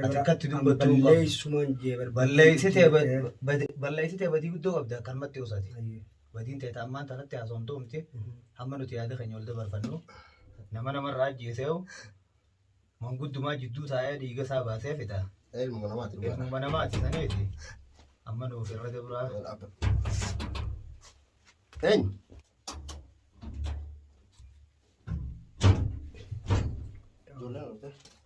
Ati akkatti dubbattuu qabda. Balleessumaan jee barbaadu. Balleessite balleessite badii guddoo qabda kan matti osaati. Ayyee. Badiin ta'e ammaan tanatti haasofamtuu miti. Mhm. Hamma nuti yaada keenya ol dabarfannu nama namarraa ajjeeseewu manguddumaa jidduu taa'ee dhiiga isaa baasee fixa. Ilmuma namaati dhugaa. Ilmuma namaati saniiti. Amma nuuf irra dabraa. Eenyu? Ijoolleen dhufte.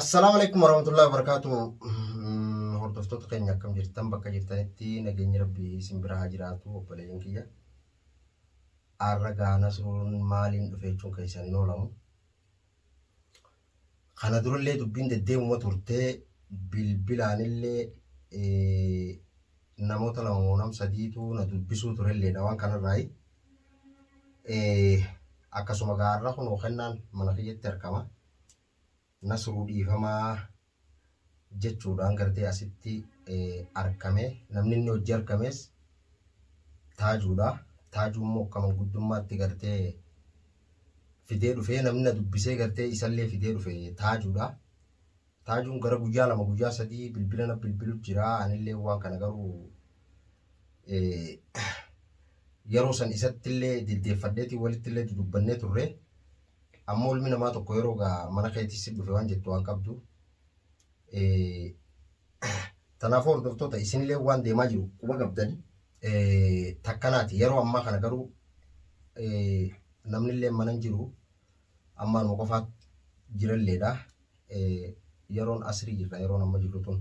Assalaamu alaikum warahmatullahi wabarakatuh. Mm, Hordoftoota keenya akkam jirtan bakka jirtanitti nageenyi rabbii isin bira haa jiraatu obboleeyyan kiyya. Arra gaa nasruun maaliin dhufe jechuun keessan hin oolamu. Kana durallee dubbiin deddeemuma turtee bilbilaanillee eh, namoota lama moo nam sadiitu na dubbisuu turelleedha waan kanarraayi. Eh, Akkasuma gaarra kun hokennaan mana kiyyatti argama. Nasruu dhiifamaa jechuudhaan gartee asitti arkame namni inni hojii arkames taajuudha taajuu immoo akka manguddummaatti gartee fidee dhufee namni na dubbisee gartee isallee fidee dhufe taajuudha taajuun gara guyyaa lama guyyaa sadii bilbila na bilbilu jira anillee waan kana garuu yeroo san isattillee diddeeffadheetiin walittillee dudubbannee turre. Amma ilmi namaa tokko yeroo gaa mana keetti si dhufe waan jettu waan qabdu. Eh, Kanaafuu hordoftoota isinillee waan deemaa jiru quba qabdani. Eh, Takkanaati yeroo ammaa kana garuu eh, namnillee mana hin jiru. Ammaanuma qofaatti jiralleedha. yeroon asrii jirra yeroon amma jirru tun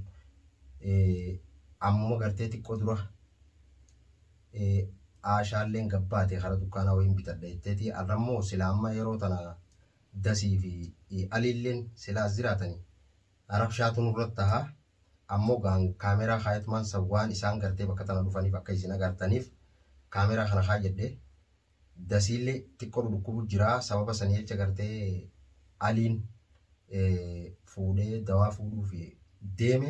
ammuma gartee xiqqoo dura aashaalleen gabbaate kara dukkaanaa wayiin bitadha jetteeti arrammoo sila amma yeroo tana dasii fi aliilleen sila as jiraatani rabshaatu nurratti taha ammoo gaan kaameraa kaayatumaan san waan isaan gartee bakka tana dhufaniif akka isin agartaniif kaameraa kana kaayadhe Dasiille xiqqo dhudhukkubu jira sababa sani jecha gartee Aliin fuudhee dawaa fuudhuuf deeme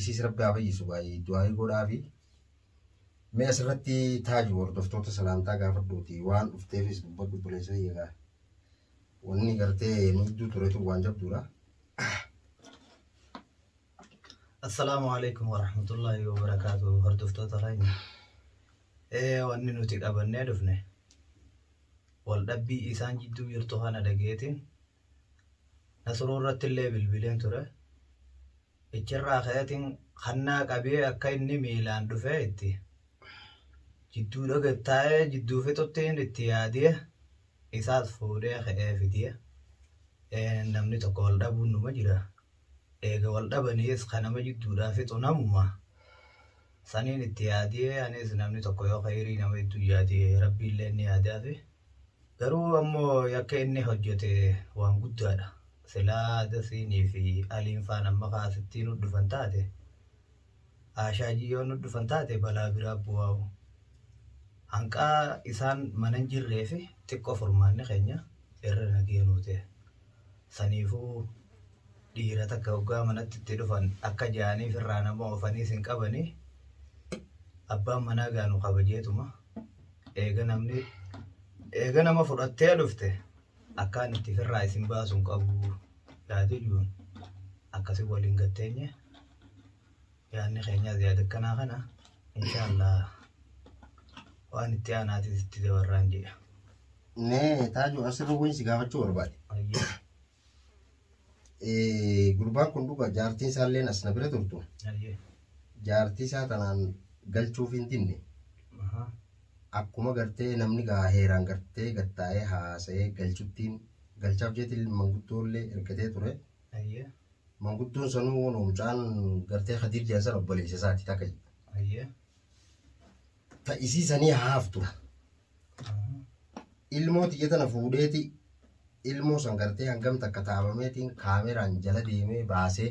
isiis rabbi haa fayyisu gaayii du'aayii godhaafi mee asirratti taaju hordoftoota salaamtaa gaafadhuuti waan dhufteefis dubbadhu obboleessa kiyya gaa wanni gartee nu gidduu turetu waan jabduudha. Assalaamu alaikum warahmatullahi wabarakaatu hordoftoota keenya. Ee wanni nuti qabannee dhufne wal dhabbii isaan jidduu jirtu kana dhageetiin nasruu irratti illee bilbileen ture. Ichirraa ka'eetiin kannaa qabee akka inni miilaan dhufee itti jidduu dhoge taa'ee jidduu fixuttiin itti yaadee isaas fuudhee ka'ee fidee namni tokko wal dhabuun numa jira. eega wal dhabaniis ka nama jidduudhaa fixu namuma. Saniin itti yaadee anis namni tokko yoo khayrii nama jidduu yaade rabbiillee ni yaadaafi. Garuu ammoo yakka inni hojjete waan guddaadha. Silaa Dasiinii fi Aliin faan amma kaasittii nu dhufan taate Aashaajii yoo nu dhufan taate balaa biraa bu'aa'u. Hanqaa isaan manan jirree fi xiqqoo furmaanni keenya irra nagee nuu ta'e. Saniifuu dhiira takka hoggaa manatti itti dhufan akka ja'aniif irraa nama oofanii sin qabanii abbaan manaa gaanu kabajeetuma eega namni eega nama fudhattee dhufte Akkaan itti firraa isin baasun qabu yaadu juun akkasi waliin gatteenye yaanni keenyaas yaada akkanaa kana inshaallah waan itti aanaatis itti dabarraan jedha. Mee taaju asirra wayii si gaafachuu barbaade. Ayyaa. Eh, Gurbaan kun dhuga jaartiin isaalleen as na bira turtu. Ayyee. Jaartii isaa tanaan galchuuf hin dinne. Ahaa. Akkuma gartee namni gaa heeraan gartee gattaa'ee haasa'ee galchuttiin galchaaf jeetiin manguddoollee ergatee ture. Ayyee. Manguddoon sanuu kunoo mucaan gartee Khadiir jedhan sana obboleessa isaati takka. Ayyee. Ta isii sanii haaftu. ilmoo tiyya tana fuudheeti ilmoo san gartee hangam takka taabameetiin kaameraan jala deemee baasee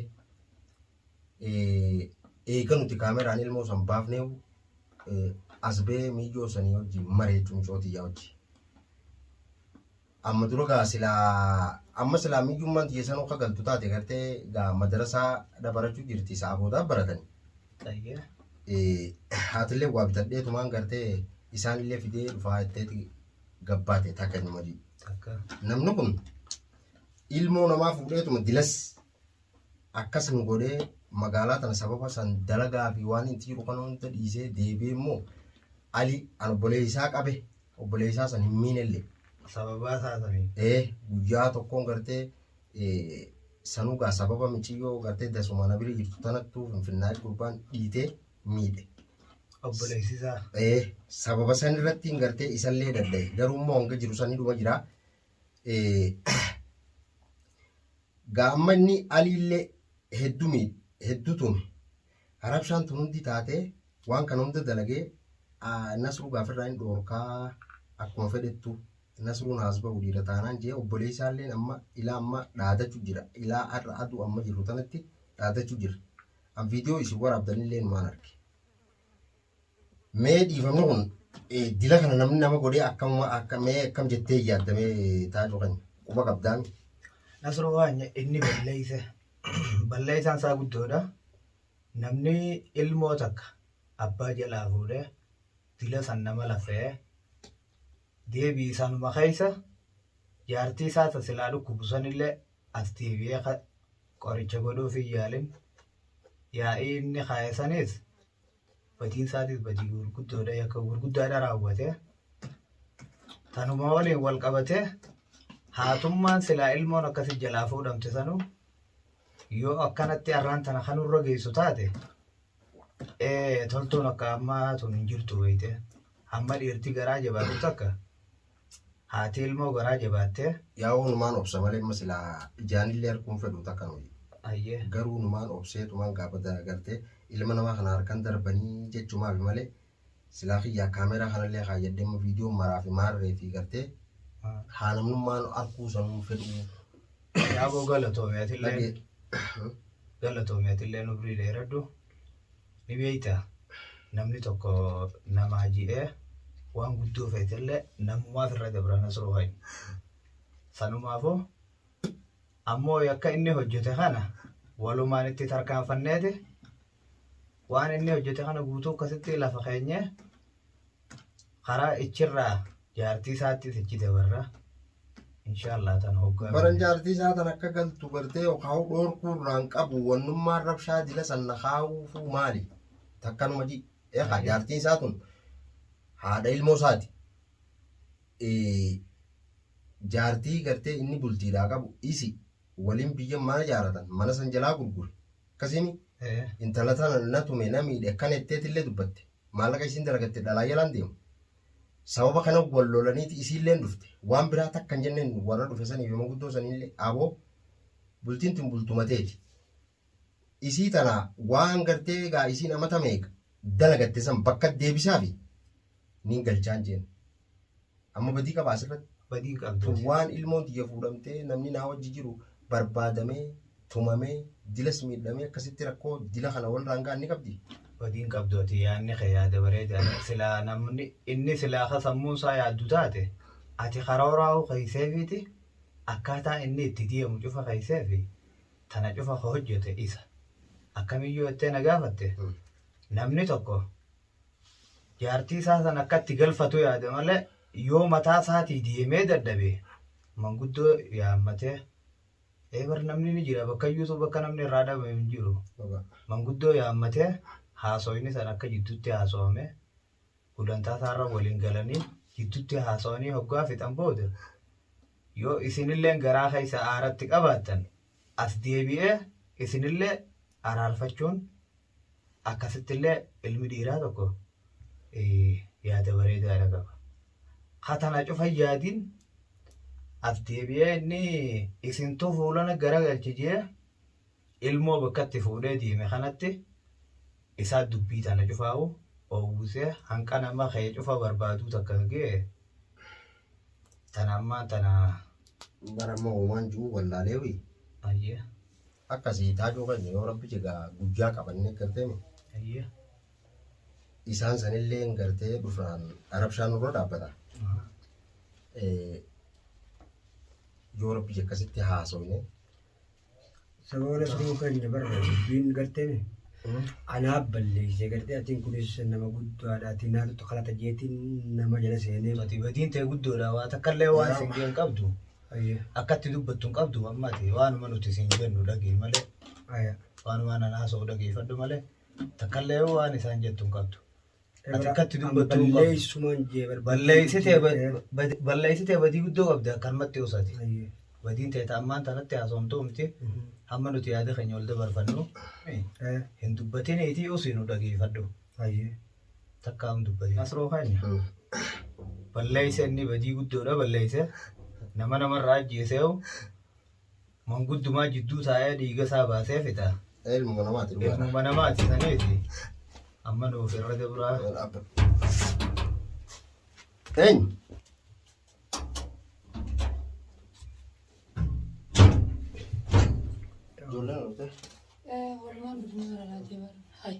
eega nuti kaameraan ilmoo san baafnee as ba'ee miyyoo sanii wajjin mareechu micoo tiyyaa wajjin. Amma dura gaa silaa amma silaa miyyummaan tiyya sanuu ka galtu taate gartee gaa madarasaa dha barachuu jirti sa'a boodaa baratani. Xayye. Haatillee waa bitadhee tumaan gartee isaanillee fidee dhufaa jetteeti gabbaate takka inni madii. Takka. Namni kun ilmoo namaa fuudheetuma dilas akkas nu godhee magaalaa tana sababa san dalagaa fi waan itti jiru kana hunda dhiisee deebi'ee immoo ali an obboleessaa qabe obboleessaa san hin miinelle sababaa isaa saniin ee guyyaa tokkoon gartee ee, sanugaa sababa miciyyoo gartee dasuma na bira jirtu tanattuu finfinnaa gurbaan dhiitee miidhe. obboleessisaa ee sababa san irratti hin gartee isallee dadhabe garuu immoo hanga jiru sanii dhuma jira gaammanni aliillee heddu miidhe heddu tume harabshaan tun hundi taatee waan kana hunda dalagee nasruu gaafirraa hin dhoorkaa akkuma fedhettu nasruun haas ba'u dhiira taanaan jee obboleessaalleen amma ilaa amma dhaadachu jira ilaa har'a aduu amma jirru tanatti dhaadachu jira an viidiyoo isin waraabdanillee numaan arge Mee dhiifamni kun dila kana namni nama godhee akkam akka mee akkam jettee yaadda mee taajuu keenya quba qabdaan. Nasroo waanya inni balleeyse balleeysaan isaa guddoodha. Namni ilmoo takka abbaa jalaa fuudhee dila san nama lafee deebii isaanuma keeysa jaartii isaa ta silaa dhukkubu sanillee as deebi'ee qoricha godhuuf hin yaalin yaa'ii inni kaa'e sanis Badiin isaatis badii gurguddoodha yakka gurguddaadha raawwate. Tanuma waliin wal qabate haatummaan silaa ilmoon akkasi jalaa fuudhamte sanuu yoo akkanatti arraan tana kan irra geessu taate toltuun akka ammaa tun hin jirtu beekte. Amma dhiirti garaa jabaatu takka Haati ilmoo garaa jabaattee. Yaa'oo numaan obsa malee amma silaa ijaanillee arguun fedhu takka nuyi. Ayyee. Garuu numaan obseetumaan gaafa gartee ilma namaa kana harkan darbanii jechumaafi malee silaa kiyyaa kaameeraa kanallee kaayyadhee amma viidiyoon maraa fi maarree fi gartee haa namnummaan arguu sanuun fedhu. Yaaboo galatoomi atillee. Dhagee. Galatoomi atillee nubrii dheeradhu. Ni beekta namni tokko namaa ji'ee waan guddoo feetellee namumaaf irra dabra nasruu hoyi. Sanumaafuu ammoo yakka inni hojjete kana walumaan itti tarkaanfanneeti waan inni hojjete kana guutuu akkasitti lafa keenyee karaa ichirraa jaartii isaattis ichi dabarra inshaallah tan hoggaa baran jaartii isaa tan akka galtu gartee yookaan dhoorkuu irraan qabu wannummaan rabshaa dila sanna kaa'uufuu maali takkanuma ji eekaa Ayyee. jaartii isaa tun haadha ilmoo isaati Eh, jaartii gartee inni bultiidhaa qabu isi waliin biyya mana jaaratan mana san jalaa gurgure akkasiimi Eh, intala tana na tume na miidhe akkana jetteetillee dubbatte Maallaqa isiin dalagatte dhalaa jalaan deemu. Sababa kana wal lolaniiti isiilleen dhufte. Waan biraa takka hin jenneen warra dhufe saniif yoma guddoo saniillee aboo bultiin tun bultuma teeti. Isii tana waan gartee egaa isiin amata meeqa dalagatte san bakka deebisaafi niin galchaan jeen. Amma badii qabaa asirratti. Badii qabdu. Tun waan ilmoon tiyya fuudhamtee namni naa wajji jiru barbaadamee tumamee dilas miidhamee akkasitti rakkoo dila kana walirraan ga'an ni qabdi. Badiin qabdu ati yaadni kee yaada bareedaadha. Silaa namni inni silaa ka sammuun isaa yaaddu taate ati karooraa'uu keesseefiiti akkaataa inni itti deemu cufa keesseefi tana cufa ka hojjete isa. Akkamiyyoo jettee na gaafatte namni tokko jaartii isaa san akka itti galfatu yaade malee yoo mataa isaatii deemee dadhabe manguddoo yaammatee eebar namni ni jira bakka iyyuutu bakka namni irraa dhabe hin jiru manguddoo yaammatee haasawni san akka jidduutti haasawame gulantaa isaarra waliin galanii jidduutti haasawanii hoggaa fixan booda yoo isinilleen garaa keessa aaratti qabaattan as deebi'ee isinillee araarfachuun akkasittillee ilmi dhiiraa tokko yaada bareedaadha qaba. Katana cufa yaadiin as deebi'ee inni isintu fuulana garagalchi jee ilmoo bakkatti fuudhee deeme kanatti isaa dubbii tana cufaa'u oowwisee hanqa nama kee cufa barbaaduu takka ga'e Tana ammaa tana bara amma uumaan jiru wallaalee wi ayyee akkasii taajuu keenya yoo rabbi jegaa guyyaa qabannee garteemi ayyee isaan sanillee hin gartee dhufnaan arabshaan nurra dhaabbata aha Eh, yoo rabbi akkasitti haasofne Saba waladduu keenya barra dubbiin garteemi. Anaaf balleessee gartee atiin kunis nama guddaadha atiin naatutti kalata jeetiin nama jala seenee. Ati badiin ta'e guddoodha waa takka illee waan Waraaba. singee hin qabdu. Ayya. Akkatti dubbattu hin qabdu amma ati waanuma nuti siin jennu dhagii malee Ayya. waanuma nan haasa'u dhageeffadhu malee takka illee waan isaan jettu hin qabdu. Ati akkatti dubbattu hin qabu. Balleessumaan jee barbaadu. Balleessitee ba- bad- balleessitee badii guddoo qabdi akkanumatti osaati. Ayyee. Badiin ta'e ammaan tanatti haasofamtu miti. Mhm. Hamma nuti yaada keenya ol dabarfannu Eh, hin dubbatini itii usii nu dhageeffadhu. Ayyee. Takka hin dubbatin. Asiroo kaani. Balleessa inni badii guddoodha balleessa. Nama namarraa ajjeesee hoo Manguddumaa jidduu taa'ee dhiiga isaa baasee fida. Ilmuma namaati dhugaa. Ilmuma namaati saniiti. Amma nuuf irra dabraa. Eenyu? Ijoolleen oltee. Walumaan dubbisuu irra laatee bara. Hayi.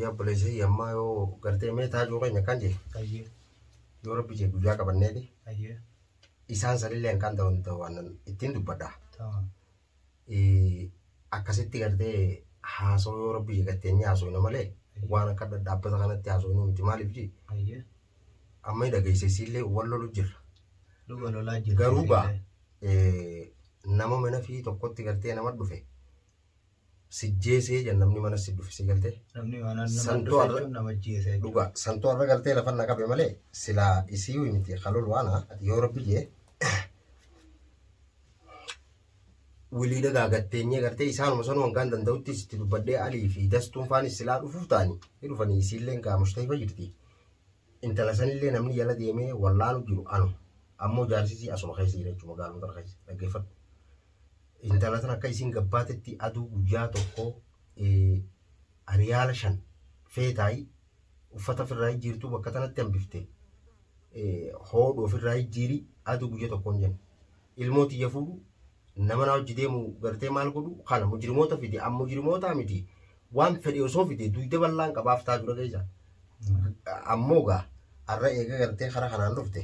Yaa obboleessa yammaa yoo gartee mee taajuu keenya kan jee Ayyee. yoo rabbi jee guyyaa qabanneeti Ayyee. isaan sanillee kan ta'u hin ta'u waan ittiin dubbadha. Tamam. Eh, Akkasitti gartee haasoo yoo rabbi jee gartee inni haasofna malee waan akka dhaabbata kanatti haasofnu miti maaliif jee Ayyee. amma hin dhageesse isiillee wal lolu jirra. Dhuga lolaa jirti. Garuu gaa eh, nama mana fi tokkotti gartee nama dhufe sijjeesee jan namni mana si dhufisee galtee. Namni mana nama Santu dhufe arra- jechuun nama ajjeese jechuudha. Dhugaa santuu har'a galtee lafa na qabe malee silaa isii miti kalol waana ati yoo rabbi jee wilii dagaagatteenyee gartee isaanuma sanuu hangaan danda'utti sitti dubbadhee alii fi dastuun faanis silaa dhufuuf ta'anii ni dhufanii isiilleen gaa mushtahima jirti intala sanillee namni jala deemee wallaanu jiru anu ammoo jaarsisii asuma keessa jira jechuudha magaaluma tana keessa dhaggeeffadhu intala tana akka isiin gabbaatetti aduu guyyaa tokko ariyaala shan feetaayi uffata ofirraa jijjiirtuu bakka tanatti hambifte hoodhu ofirraa jijjiiri aduu guyya tokkoon jenna. Ilmoo tiyya fuudhu nama na hojji deemu gartee maal godhu kana mujrimoota fidi an mujrimootaa miti waan fedhe osoo fide duyda bal'aan qabaaf taatu dhageessa. Ammoo gaa har'a eega gartee kara kanaan dhufte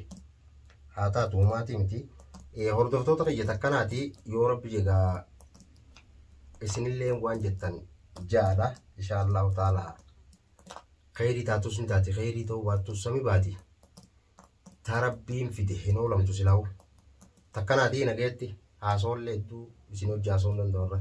haa taatu uumaatii miti. Eh, Hordoftoota kiyya takkanaati yoo rabbi jegaa isinillee waan jettan jaadha insha Allahu taala kheyrii taatus ni taati kheyrii ta'uu baattus sami baati ta rabbiin fide hin oolamtu silaa'u takkanaati nageetti haasoollee hedduu isin hojii haasoon danda'u irra.